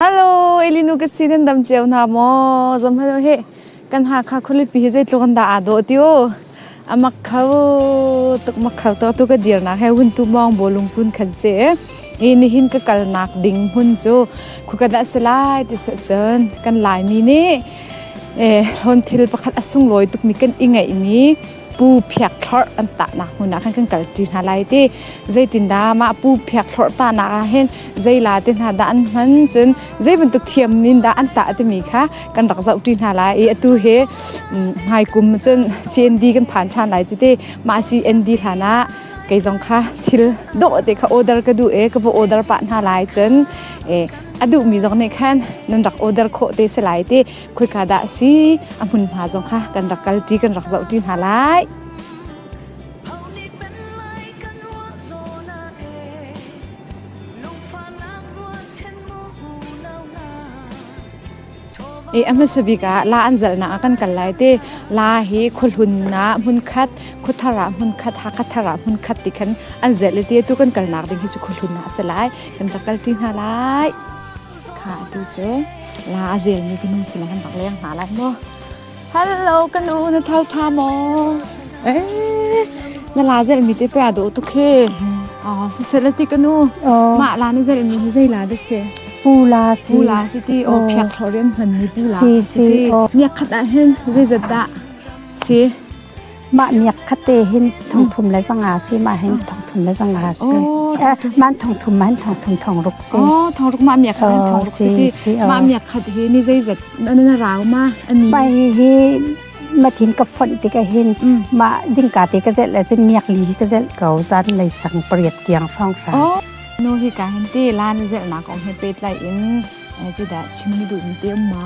Hello, Elinu ka si nan dam ceu na maw? Zom hello he. Kan ha kha khulipi hi zeitluk an da a do tio. Amak khau tuk mak khau to tu ka dir na he hun tu mong bolung kun khan se. Ini ni hin ka kal nak ding hun chu khukada selai ti sa chon kan lai mi ni eh hon thil pakhat asung loi tuk mi kan ingai mi pu phiak thlorh an tahnak hmun ah khan kan kal ṭi hna lai ti zeitindah mah pu phiak thlorh tahnak ah hin zeila te hna dah an hman cun zei bantuk thiam nin dah an tah timi kha kan rak zoh ṭi hna lai i atu he hmaikum cun CND kan phan ṭhan lai cu te mah CND hlan ah kei zong kha thil dawh te kha order ka du e ka va order pa hna lai cun e a duhmi zong nih khan nan rak order khawh te se lai ti khoika dah si a hmun hna zong kha kan rak kal ti kan rak zoh ti hna lai e a hmasa bik ah la an zalnak a kan kal lai te la hi khuhlun na hmun khat khuthara hmun khat ha khathara hmun khat ti khan an zelete tu kan kal nak ding hi chu khuhlun na a se lai kan rak kal ti hna lai kha atu cu la a zelmi ka nu sin kan rak leng hna lai maw hello ka nu na thal tha maw eh na la zelmi te pe a dawh tuk he oh sisela ti ka nu mah la na zelmi hi zei la da se pula si pula si ti o phiak thloren hman ni pula si si o miak khat ah hen zei zat da si Mah miak khatte hin thongthum le zanga si ma hin thongthum le zanga si. Man thongthum ma hin thongthum thong ruk si. Oh thong ruk ma miak kha hin thong ruk si. Ma miak khat hi ni zeizat na rau ma ani. Mai hi ma thin ka fonh tik a hin ma jingka te ka zel le cun miak li hi ka zel ko zan nei sang pariat tiang phong fra. Oh nu hi ka hin ti lan zel nak o he pe tlai in ai ji da chim ni du in te ma.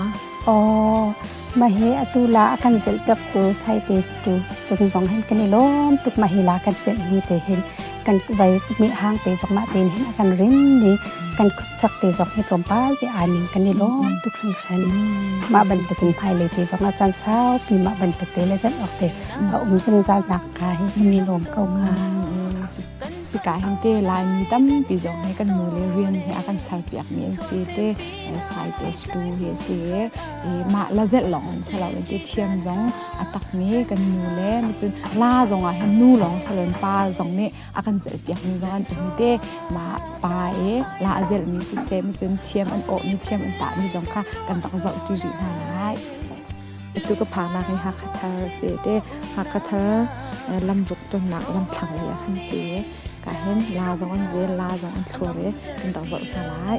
Oh Mahe atu la a kan zelhpiak ku saite tu chung zong hin kan i lawm tuk mahi la kan zelh ni te hin kan vai mit hang te zong ma ten hin a kan rin ni kan khutsak te zong hi tlawmpal te aning kan i lawm tuk hring hran ma bantukin phai le te zong a chan sau pi ma bantukte le zan ok te a um zungzal nak ka hi mi lawm ko nga chika hin te lai mi tampi zong he kan nu le rian he a kan sarpiak mi an si te saites tu hi a si i mah la zelh lawng an si lo i ti thiam zong a takmi kan nu le cun la zong ah hin nu lawng si loin pa zong nih a kan zelh piakmi zong an cun te mah pa i la a zelhmi sisem cun thiam an awhmi thiam an tahmi zong kha kan rak zoh ti rih hna lai tu ka phaknak hi hakha thar a si te hakha thar lamruk tonnak lamthlang li a kan si ka hin la zong an zel la zong an thlur i kan rak zoh hna lai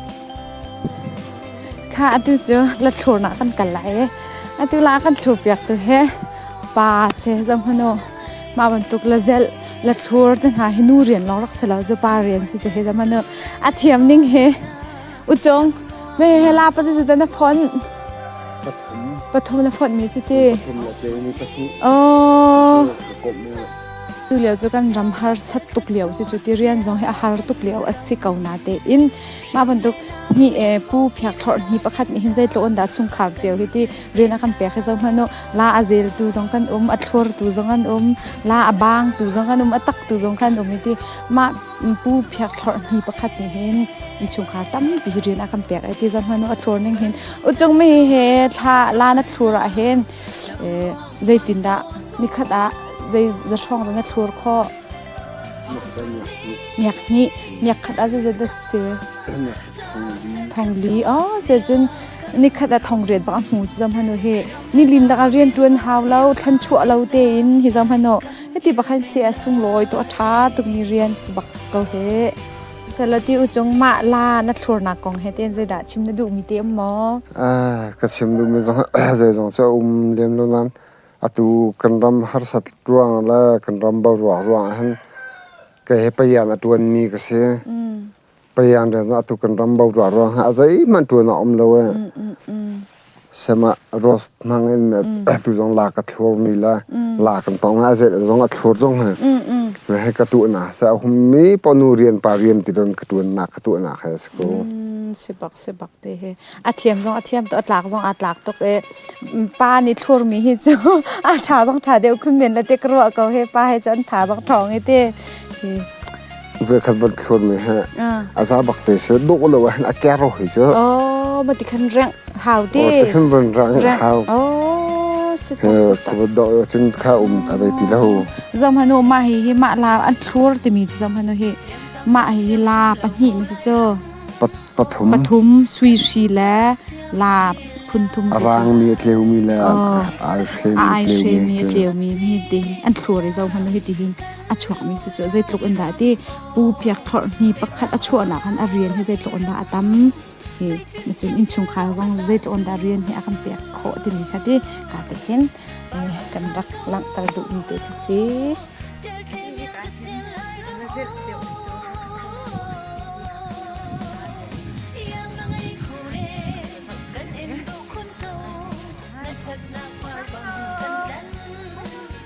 kha atu cu la thlur nak kan kal lai i atu la kan thlur piak tu he pa se zong hnu ma bantuk la zel la thlur te hna hi nu rian long rak selo zu pa rian si chu he zamanu a thiam ning he uchong me he la pa zu na phon pathum pathum na phon mi si ti pathum la tle ni pahnih oh Tulio cu kan ram harsat tuk lio cucu ti rian zong hi a har tuk lio a si ko na tein mah bantuk ni pu phiak thlorh ni pakhat nih hin zeitluk in dah chungkhar cio hi ti rian a kan pek hi zohhmanh u la a zeltu zong kan um a thlortu zong an um la a bangtu zong an um a taktu zong kan um hi ti mah pu phiak thlorh ni pakhat nih hin chungkhar tampi rian a kan pek ai ti zohhmanh u a thlor ning hin u chung mi he thla la na thlur ah hin zeitindah nikhat ah zei zathrawng dah na thlur khawh miak hnih miak khat ah zeizat dah si thong li o se cun nikhat ah thong riat bak a hmu cu zom hanu hi nilin laka rian tuan hau lo thlan chuah lo te in hi zom hanu heti bakhan si a sunglawi to a tha tuk mi rian bak ko he Salati u cung mah la na thlurnak kong he ten zeidah chim na duhmi te um maw? ka chim duhmi zong zeizong cu um lem lo nan atu kan ram harsat ruang le kan ram bal ruang ruang hin ka he payan a tuan mi ka si. Payan le atu kan ram bal ruang ruang ha zeihmanh tuan a um lo e. sem ah rose hnang in atu zong la ka thlur mi le la kan tong ah zei zong a thlur zong he he ka tu na sa hum mi ponu rian pa rian ti don ka tuan na ka tu na he se ko sibak sibak te he a thiam zong a thiam to a tlak zong a tlak tok e pa ni thlur mi hi chu a tha zong tha deu khun men la te kro ko he pa he chan tha zong thong i te hi Vekhat van thluan mi he a za bak te se dawh lo ah a kero hi cu oh ma ti khan rang hau ti oh ti khan van rang hau oh setak setak ko dawh chin kha um ta dei ti lo zam hanu ma hi hi ma la an thlur ti mi zam hanu hi ma hi hi la pahnih ni se cho pathum pathum sui shi le la phun thum rang mi tleu mi le ai she mi tleu mi tleu mi mi ti an thlur i zam hanu hi ti hin a chuakmi su cu zeitluk in dah ti pu piak phorh hni pakhat a chuahnak khan a rian hi zeitluk in dah a tam hi cun innchungkhar zong zeitluk in dah rian hi a kan pek khawh timi kha ti ka te hin kan rak langhter duhmi te kha si Thank you.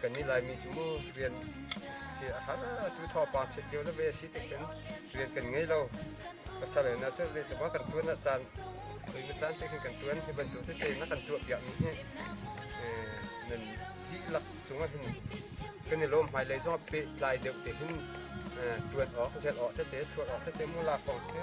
kan ni laimi cu rian a har tu thawpa set lio le ve si tek in rian kan ngei lo pasal na cu ve tuma kan tuan a caan khoima caan te kan tuan hi bantuk te na kan tuah piak mi hi nan dihlak cunga hin kan i lom hmai lei zo pe tlai deuh te hin tuan awk zel awk te te thuat awk te te mu la kong te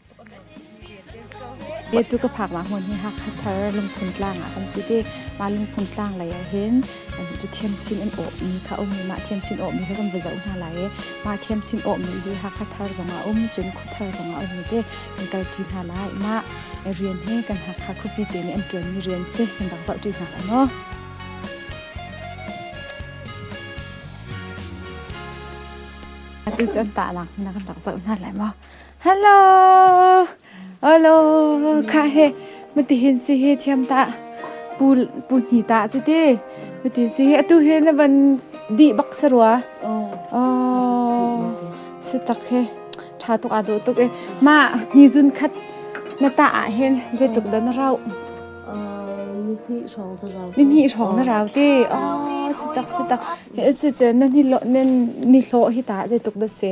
Etu ka phaknak hmun hi Hakha thar lungphun tlang ah kan si ti. Mah lungphun tlang lei ah hin thiam sin in awhmi kha um i mah thiam sin awhmi hi kan va zoh hna lai i mah thiam sin awhmi hi Hakha thar zong ah um cun khua thar zong ah um i te kan kal ṭi hna lai. Mah rian hi kan Hakha khuapi te nih an ṭuanmi rian si kan rak zoh ṭi hna lai maw? Atu cu an tahnak hmun ah kan rak zoh hna lai maw? hello alo kha he mati hin si he thiam ta pu pu hni ta chi ti mati si he atu he na ban di bak sarua o si tak he tha tuk a do tuk e ma ni jun khat na ta a hen ze tluk da na rau nihni rong za rau nihni rong na rau ti o si tak si tak he se chen na ni lo nen ni hlo hi ta ze tuk da se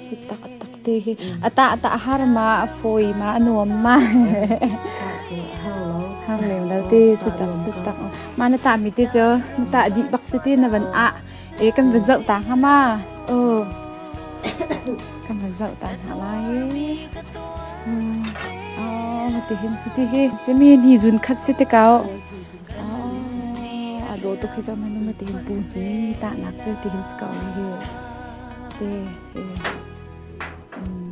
si taktak te hi a tah tah har ma a fawi ma a nuam ma har lem lo te si tak si tak ma na ta mi te cho na ta di bak si ti na van a e kan van zau ta ha ma o kan van zau ta ha lai o ti hin si ti hi semi ni zun khat si te kau a do to khi zam hanu ma ti hin pu ni ta nak chu ti hin skau hi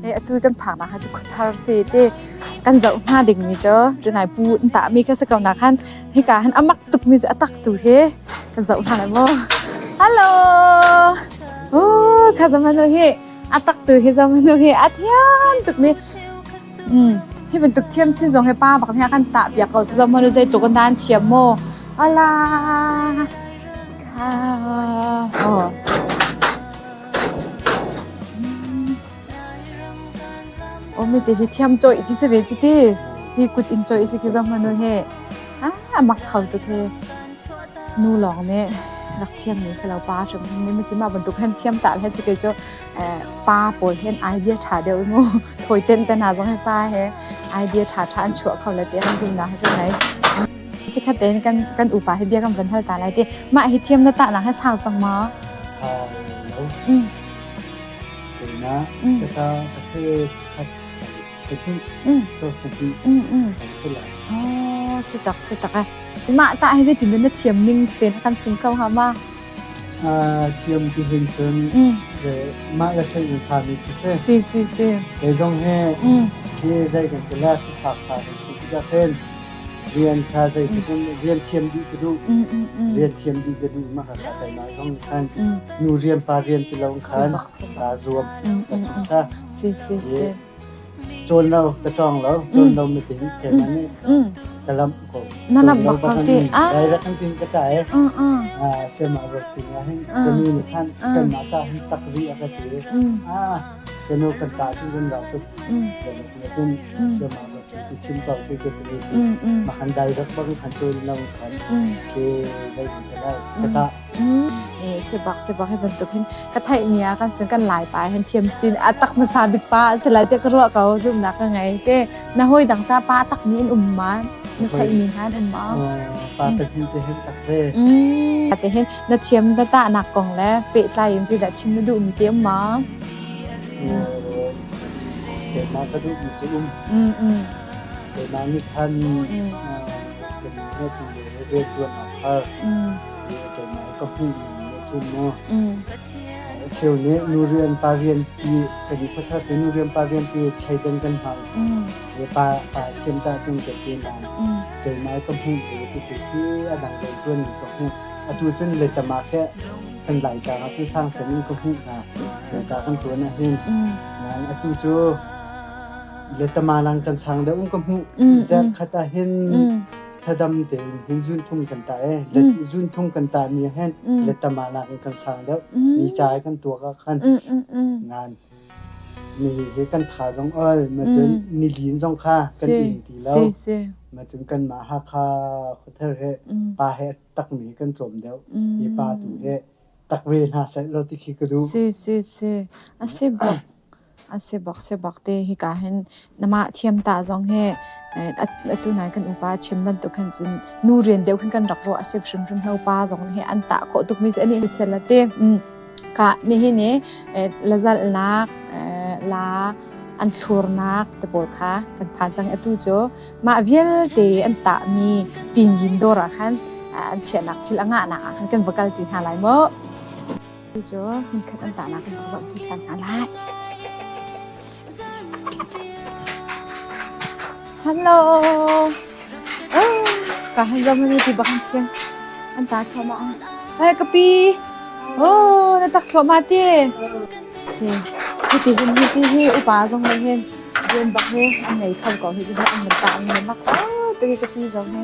E atu kan phang na ha chu thar se te kan zau hna ding mi cho te nai pu in ta mi ka se kau na khan hi ka han amak tuk mi chu atak tu he kan zau hna lai mo hello o kha zamanu hi atak tu hi zamanu hi athiam tuk mi Hi bantuk thiam sin zong hi pa bak nih a kan tah piak ko sazong manu zeitluk in dan thiam maw ala kha oh. Oh mi te hi thiam choi ti se ve ti hi kut in choi si ki zong manu he ah mak kho tu khi nu lawng ne rak thiam ni se lo pa hrim ni mu chi ma bantuk hen thiam ta le chi ke cho pa pawl hen idea ṭha deuh mu thawi ten te hna zong hi pa he idea ṭha ṭha an chuah kho le ti an zumnak hi ka ngei cikhat tein kan kan upa hi bia kan van hal ta lai ti mah hi thiam na ta nak hi sau cang ma sau lo na ka ta ka se khat sati so sati kan se la oh si tak si tak mah ta hi zai tin na thiam ning sen kan chim kau ha ma thiam ti hin cun mah le seng in sami khi si. Si si si. Kei zong he hi zei kan ti la si phak phak kan si tikah khin rian kha zei tikin rian thiam dih ka duh rian thiam dih ka duh ma ka kai ma zong khan nu rian pa rian ti lo khan ka zuam ka chu sa si si si Cawn lo ka cawng lo, cawn lo mit in keimah nih ka lamh ko. Na lamh bak ko ti. Direct an tin ka ta e. Sema ro sing ah hin ka nu nih khan kan ma cha hin tak ri a ka ti. Ka nu kan ta chu kan lau tuk. Cun sema ro ti chim ko si ke ti ma kan direct bang kan cawn lo khan ke dai ka lai. Ka ta sebak sebak hi bantuk hin ka theihmi ah kan cun kan lai pa hen thiam sin a tak hmasa bik pa a si lai te ka ruah ko zumnak ka ngei te na hoi dang ta pa tak ni in um ma na theihmi hna den ma pa te hin te hin tak ve pa te hin na thiam da ta nak kong le pe tlai in ji da chim na du mi te ma ke ma ka du mi che um ke ma ni khan ke ma tu le re tuan na phar keimah ka hmuh ning a cun maw. Cheu nih nu rian pa rian pi kan khuathat nu rian pa rian pi thleidan kan hmang. Le pa pa thiam ta chung ke pi na. Keimah ka hmuh ning tu tu hi a dang dang tuan ka hmuh. A tu cun le tama ke kan lai ka cu sang kan ka hmuh na. Sa kan tuan a hin. Nang a tu cu le tama lang kan sang da um ka hmuh. Zak khat a hin. thadam tein hin zunthum kan tah e le mm. zunthum kan tah ni hen mm. le tama na in kan sang deuh ni cha kan tuak a khan ngan mi he kan tha zong ol ma chun ni lin zong kha kan in ti lo ma chun kan ma ha kha khothar he pa he tak mi kan chom deuh i pa tu he tak ve na sai lo ti khi ka du si si si a se bak Sibak sibak te hika hin na mah thiamta zong hi atu nai kan upa chim bantuk khan cun nu rian deuh khin kan rak ruah a si hrimhrim lo pa zong hi an tah khawh tukmi cu an in sel a ti. Kah nihin i lazalnak la an thlurnak te pawl kha kan phan cang. Atu cu mah vialte an tahmi pinyin dawr ah khan an chiahnak thil a ngahnak ah khan kan va kalṭi hna lai maw? Hi cu hmunkhat an tahnak in ka zohpi ṭhan hna lai. Hello! Oh, ka han zo mani ti bak an chim. An ta thloma ah. Ai ka pi. Oh, na tak thloma ti. Hi, hi ti hin hi ti hi upa zong le hin rian bak he an nei kho ko hi ti hi an nan ta an nan nak ko. Ti ka pi zong he.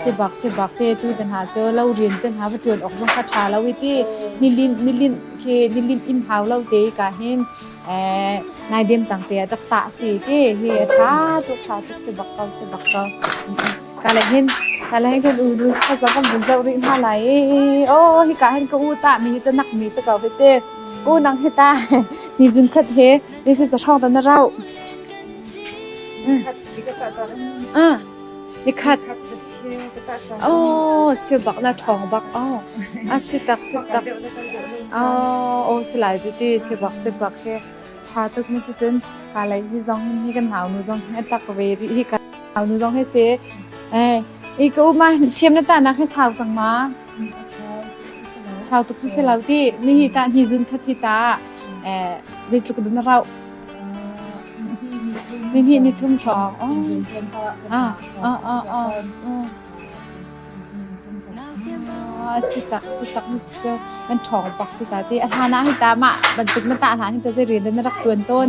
Sibak sibak te tu te hna cu lo rian te hna va ṭuan awk zong kha ṭha lo i ti nilinh nilinh khi nilinh in hau lo te i ka hin nai dem tang te tak ta si ti hi a ṭha tuk ṭha tuk sibak ko sibak ko ka le hin ka le hin kan u nu kha zong kan vun zoh rih hna lai o hi ka hin ka u ta mi hi cu nak mi se ko hi te u nang hi ta ni zun khat he ni se sa ṭhong ta na rau 嗯。 Nikhat aw siubak na ṭhawng bak aw a si tak si tak aw aw si lai cu ti siubak siubak hi ṭha tuk mi cu cun ka lei hi zong hi kan nau nu zong hi a tak ve rih hi ka nau nu zong hi si eh i ka u ma thiam na ta nak hi sau cang ma sau tuk cu si lo ti mi hi ta ni zun khat hi ta eh zeitluk din rau ni ni ni thum chong ah ah ah ah si tak si tak ni chu kan thong pak si ta ti a hana hi ta ma bantuk na ta hna hi ta zeri den rak tuan ton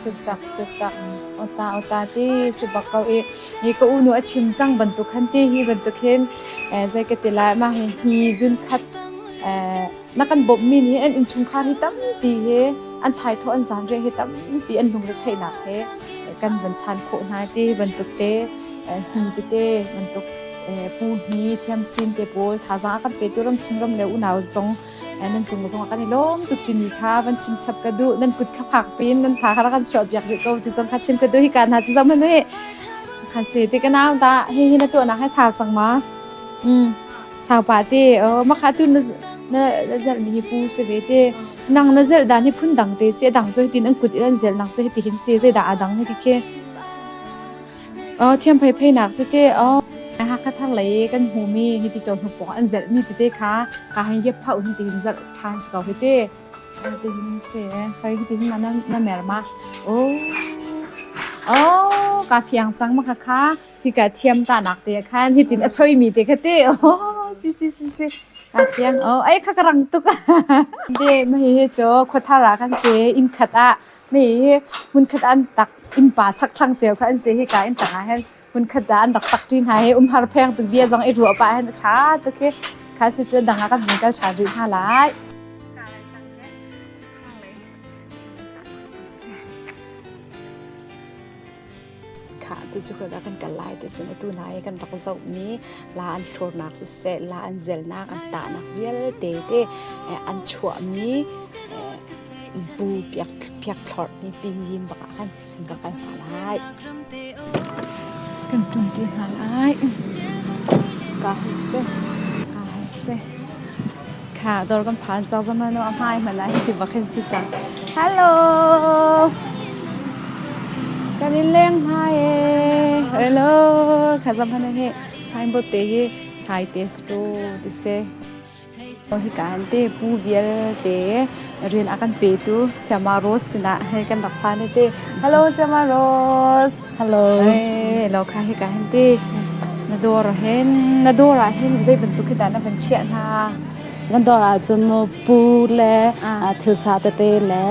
Si, tak, si tak. Ota, ota ti, si bak kau i, ni ka unu a chim cang bantuk han ti hi bantuk hin, zei ka tila ma hi, hi zun khat, na kan bawmhmi nih an innchungkhar hi tampi he an thaithawh an zanriah hi tampi an lungretheihnak he kan van chan khawh hna te bantuk te hni tete bantuk pu hni thiam sin te pawl thazang kan pe tu ramchung ram le unau zong nan cung zong kan i lawm tuk timi kha van chim chap ka duh nan kut kha phak pin nan tha kha kan chuah biak rih ko ti zong kha chim ka duh hi ka hna ti zong hnu hi khan se ti ka nau da hi hi na tuahnak hai sau cang ma mm Sangpa te, makha tu na na zelh mi hi pu si ve te. Nang na zelh dan hi phun dang te si, dang cu hitin an kut in an zelh nak cu hiti hin si, zeidah a dang ni ti khi. Thiam phei phei nak si te, hakha thar lei kan hmu mi hiti chon hnu pawng an zelh mi ti te kha, ka hin je phau hin ti hin zelh than si ko hiti. Ti hin si, phai hiti hin na mer ma. Oh, oh, ka thiang cang makha kha. Hika thiam tanak te khan hitin a choimi te kha te oh si si si si ka fiang oh ai kha ka rang tuk de ma hi hi cho khothara kan se in khat a me hi mun khat an tak in pa chak thlang cheu kha an se hi ka in tanga hen mun khat da an rak tak tin ha he um har pheng tu bia jong i ru pa hen tha to ke kha se se danga kan mun kal tha ri tha lai Khah tu cu kan kan kal lai ti cun atu na i kan rak zohmi la an thlurnak siseh la an zelnak an tahnak vialte te an chuahmi bu piak piak thlorh ni pingin bak ah khan kan ka kal hna lai. Kan ṭumṭi hna lai. Ka seh, ka seh. Kha dawr kan phan cang zaman a hmai hmana hi ti bak kan si cang. Hello. Kan in leng hmai e. Hello. Kha zaman hi signboard te hi sites to ti se. Oh hi kan te pu vial te rian akan pe tu Siama Rose sina he kan rak phan te. Hello Siama Rose. Hello. Hey, lo kha hi ka hin ti. Na dawr hin na dawr ah hin zei bantuk khi dah na van chiah hna? Na dawr ah cun mo pu le thil sa tete le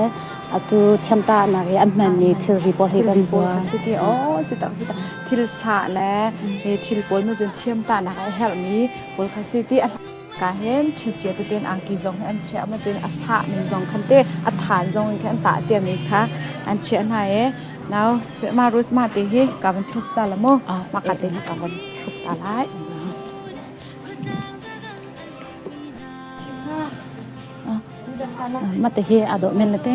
atu thiamta nak i an hman mi thil ri pawl hi kan zuar. Si ti o si tak si tak thil sa le thil pawl nu cun thiamta nak ai herh mi pawl kha si ti ka hen chichia teten angki zong hi an chia ma cun a sah mi zong khan te a than zong in khan an tah cia mi kha an chia hna e now ma rus ma te hi ka van thut ta la mo ma ka te hi ka van thut ta lai ma te hi ado men na te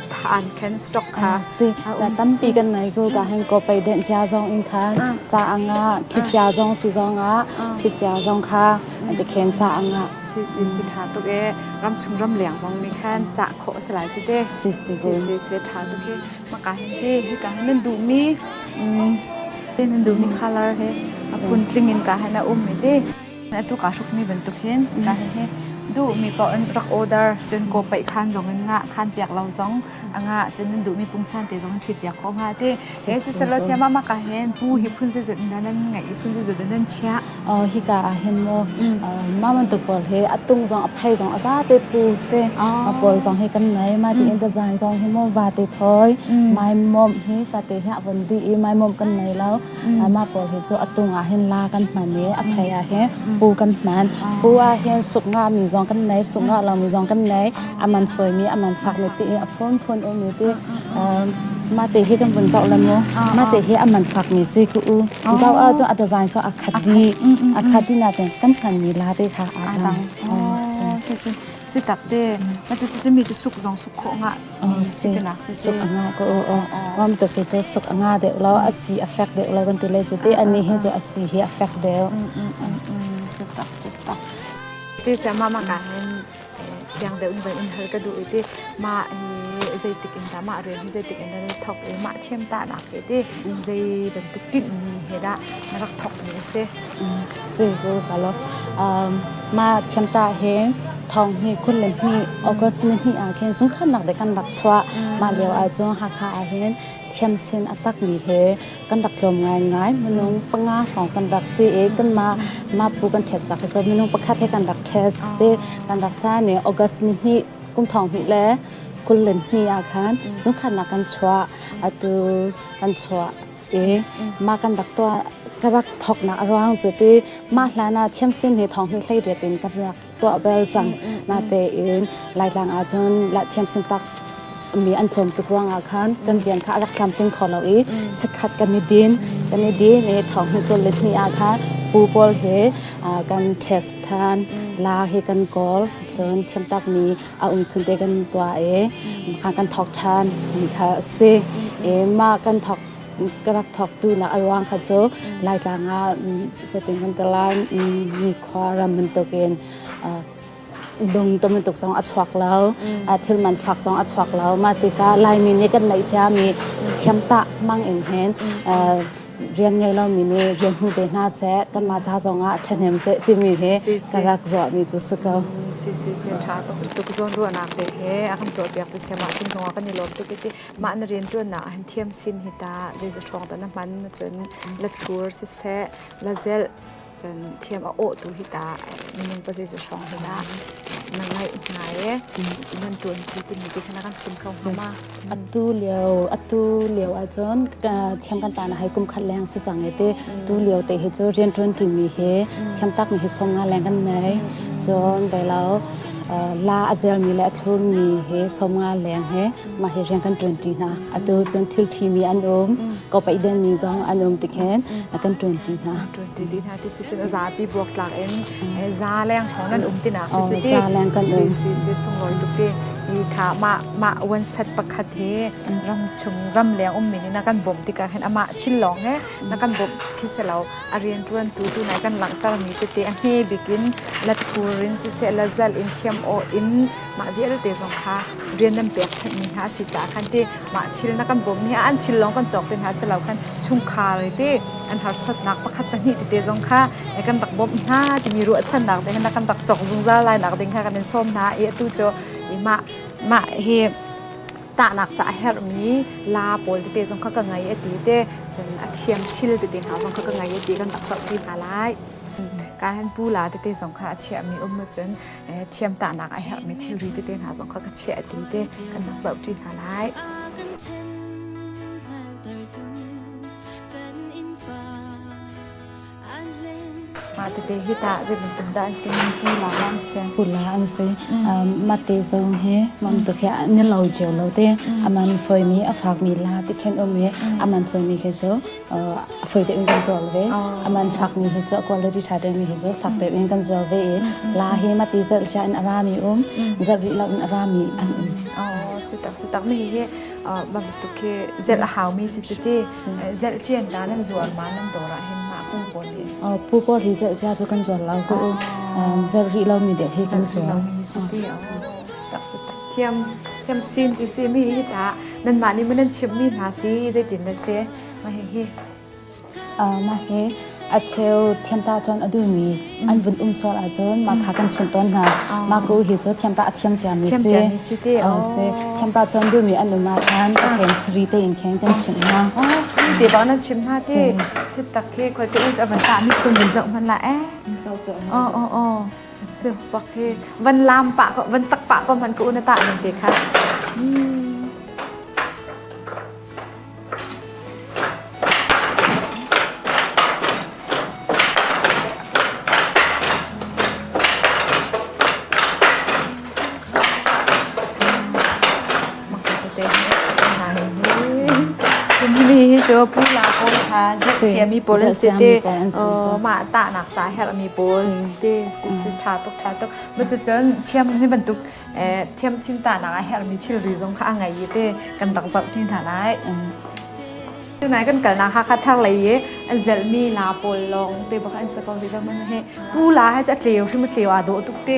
an can stock kha si ta tampi kan nei ko ka heng ko pe den cha zong in kha cha anga thi cha zong si zong a thi cha zong kha te khen cha anga si si si tha tuk e ram chung ram leng zong ni khan cha kho se lai chu te si si si si tha tuk e ma ka hen he hi ka hen du mi tin du mi color he a pun tling in ka hen a um me te a tuk aa hrukmi bantuk hin ka hihi duhmi paoh in rak order cun kaw paih khaan zong in ngah khaan piak lo zong a ngah cun nan duhmi pungsan te zong ṭhit piak ko hnga ti he si selo sia mama ka hen pu hi phun se zut nan nan ngai i phun se zut nan chia hika ah hin mo mama tu pawl he a tung zong a phai zong a za te pu se a pawl zong hi kan nei ma ti in design zong hi mo va te thoi mai mom hi ka te hi a von di i mai mom kan nei lo mah pawl hi cu a tung ah hin la kan hman i a phei ah hin pu kan hman pu ah hin suk nga mi zong kan nei suk nga lo mi zong kan nei a man foi mi a man fak mi ti a phun phun u mi ti ma te hi kan vun zoh la mu ma te hi a man fak mi si ku u zau a cu a design so a khat di a khat di na ten kan hman mi la te kha a dang si si si tak te ma chu mi chu suk zong suk kho nga Sikanak si suk a nga ko o wam to ke chu suk a nga deuh lo a si a fek deuh lo kan ti le chu te ani hi chu a si hi a fek deuh sutak sutak ti se ma ma ka nin thiang deuh in vai in hal ka du iti ma zeitik in ta ma re hi zeitik in nan thok e ma thiam ta na ke ti zei bantuk tin ni he da na rak thok ni se Sigur kalok. Mah thiamtah hin thong ni kul le ni August ni ni ah khin zungkhannak de kan rak chuah. Mah lio ah cun Hakha ah hin thiam sin a tak mi he kan rak tlawm ngai ngai. Minung panga hrawng kan rak si i kan mah mah pu kan ṭhet sak cu minung pakhat he kan rak ṭhes te kan rak sa ni August ni ni kum thong ni le kul le ni ah khan zungkhannak kan chuah. Atu kan chuah. si. Mah kan rak tuah ka rak thawknak a ruang cu ti mah hlan ah thiamsin hi thawng hi hleiriat in ka rak tuah bel cang. Natein Laitlang ah cun la thiamsin tak mi an tlawm tuk ruangah khan kan rian kha a rak tlamtling kho lo i chikkhat kan i din kan i din i thawng hi tulit ni ah khan pu pawl he ah, kan test ṭhan la hi kan kawl cun thiamtak mi a um chunte kan tuah i mah kan thawk ṭhan mi kha a si i mah kan thawk ka rak thawktu nak a ruang kha cu laitlang ah cutin kan ti lai nikhua ram bantukin lung to bantuk zong a chuak lo thil man fak zong a chuak lo mah tikah laimi nih kan neih ciami thiamtah mang in hin rian ngei lomi nih rian hmu ve hna seh kanmah ca zongah ṭhahnem seh timi hi ka rak ruahmi cu si ko. Si si si ṭha tuk zawn ruahnak te he a kan tuahpiak tu siam ahcun zongah kan i lawm tuk iti mah na rianṭuannak ah hin thiam sin hi ta leizaṭhuang ta na hman cun la thlur siseh la zelh Cun thiam a awh tu hi ta minung pa zeiza hrawng hi dah na ngaih hna e nan tuan ti timi ti khan a kan chim kho hnga ma. Atu lio atu lio ah cun thiam kan ta na hai kum khat leng si chang e te tu lio te hi cu rian tuan ti mi hi thiam tak mi hi song nga leng kan nei cun bai lau la a zel mi le a thlur mi hi som nga leng he mah hi rian kan ṭuan ṭi hna atu cun thil ṭhimi an um ko paih denmi zong an um tikhin kan ṭuan ṭi hna ṭuan ṭi hna ti si cun a zapi buak tlak in za leng thawng nan um tina si cu ti za leng kan um si si sunglawi tuk ti i kha mah mah wan set pakhat hi ram chung ram leng um min na kan bawm tikah hin amah chil lawng he na kan bawm khi se lo a rian ṭuan tu tu nai kan langhter mi te te a hme bikin lat pur in si se la zal in chiam o in mah vialte zong kha rian nan pekchanhmi hna a si caah khan ti mah thil na kan bawmmi ah an thil lawng kan cawk te hna si lo khan chungkhar ti an harsatnak pakhat pahnih tete zong kha na kan rak bawmh hna timi ruahchannak ding na kan rak cawk zungzal lainak ding kha kan in sawm hna i atu cu mah mah hi tahnak ca a herhmi la pawl tete zong kha ka ngei a ti te cun a thiam thil tete hna zong kha ka ngei a ti kan rak zohti hna lai kan pu la tete zong kha a chiahmi um cun thiamtahnak a herhmi thilri tete hna zong kha ka chiah a ti te kan rak zoh ṭi hna lai. Mah tete hi ta zei bantuk dah an si hman hi la an si kula an si mah te zong hi mam tu khi ni lo jeu lo te aman foi mi a fak mi la ti khen um i aman foi mi khi chu a fawi tein kan zuar ve a man fakmi hi cu quality tha tein hi cu fak tein kan zuar ve i la hi mati zelh cia in a rami um zelh rih lo in a rami an um si tak si tak mi hi ma bituk hi zelh a haumi si si ti zelh cian ta nan zuar ma nan dora hin ma pung pawl hi oh pu pawl hi zelh cia cu kan zuar lo ku um zelh rih lomi deh hi kan zuar si ti si tak si tak Thiamsin ti simi hi tah nanmah nih maw nan chimhmi hna si zeitin na si? Mah hihi. Mah hi a cheu thiamta cun a duhmi an vun um sual ahcun mah kha kan chimh tawn hna. Mah ku hi cu thiamta a thiam ciami si. Thiamciami si ti. Si. Thiamta cun duhmi an um ahcun ka kheng free tein kheng kan chimh hna. Si ti bang nan chimh hna ti. Si tak hi khuate uc a van tah mi kun vun zoh hmanh la eh. Misau tuah. Oh oh oh. Sepak he van lam pa ko van tak pa ko man ku na ta ning te kha. Chinmi hi cu pula pawl kha zet ciami pawl an si te mah tahnak ca herhmi pawl te si ṭha tuk ṭha tuk cucun thiam ni bantuk thiam sin tahnak a herhmi thilri zong kha a ngei i te kan rak zohti hna lai tunai kan kalnak hakha thar lei i an zelmi la pawl lawng te bak an si ko hi zong hi pu la hi a tleu hrim a tleu aa dawh tuk te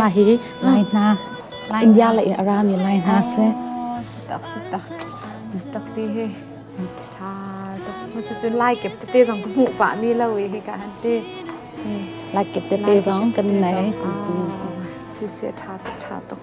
Mah hi Lai hna, India le a rami Lai hna si. Sitak sitak. Sitak ti hi. Tha tuk. Cu lai kep tete zong ka hmuh pa mi lo hi ka han ti. Lai kep tete zong kan nei. Si si tha tuk tha tuk.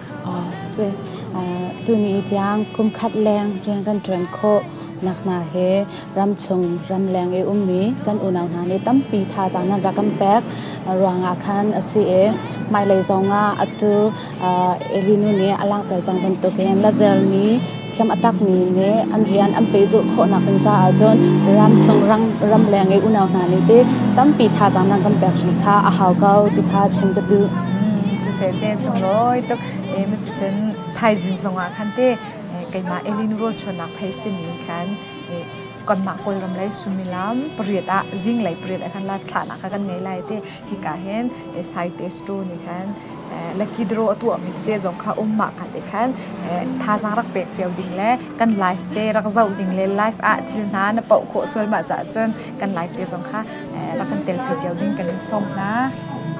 si tuni tiang kumkhat leng rian kan ṭuan khawh nak hna hi ramchung ramleng i ummi kan unau hna nih tampi thazaang nan rak kan pek ruangah khan a si i hmailei zongah atu Elinu nih a langhter cang bantukin Lazelmi thiam a takmi le an rian an pehzulh khawhnak ding caah cun ramchung ram ramleng i unau hna nih ti tampi thazaang nan kan pek hrih kha a hau ko ti kha chim ka tu sisel te sunglawi tuk e mu chu chun thaizing songah khan te keima elin rol chonak phais te min khan kon ma kol ram lai sumilam pariat a zing lai pariat a kan la thla na ka kan ngai lai te hika hin scientist tu nih khan lakidro a tuahmi tete zong kha ummah kha te khan thazaang rak pek cio ding le kan life te rak zoh ding le life ah thil hna na poh khawh sualmah cah cun kan life te zong kha rak kan telpi cio ding kan in sawm hna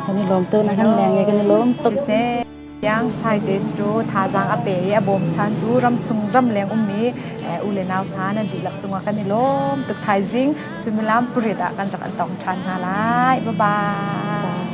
kan i lawm tu na kan leng kan i lawm tuk Tiang Saite Sto thazaang a pe i a bawmchantu ramchung ramleng ummi u le nau hna nan dihlak cungah kan i lawm tuk thaizing suimilam pariat ah kan rak an tong ṭhan hna lai. Bye bye.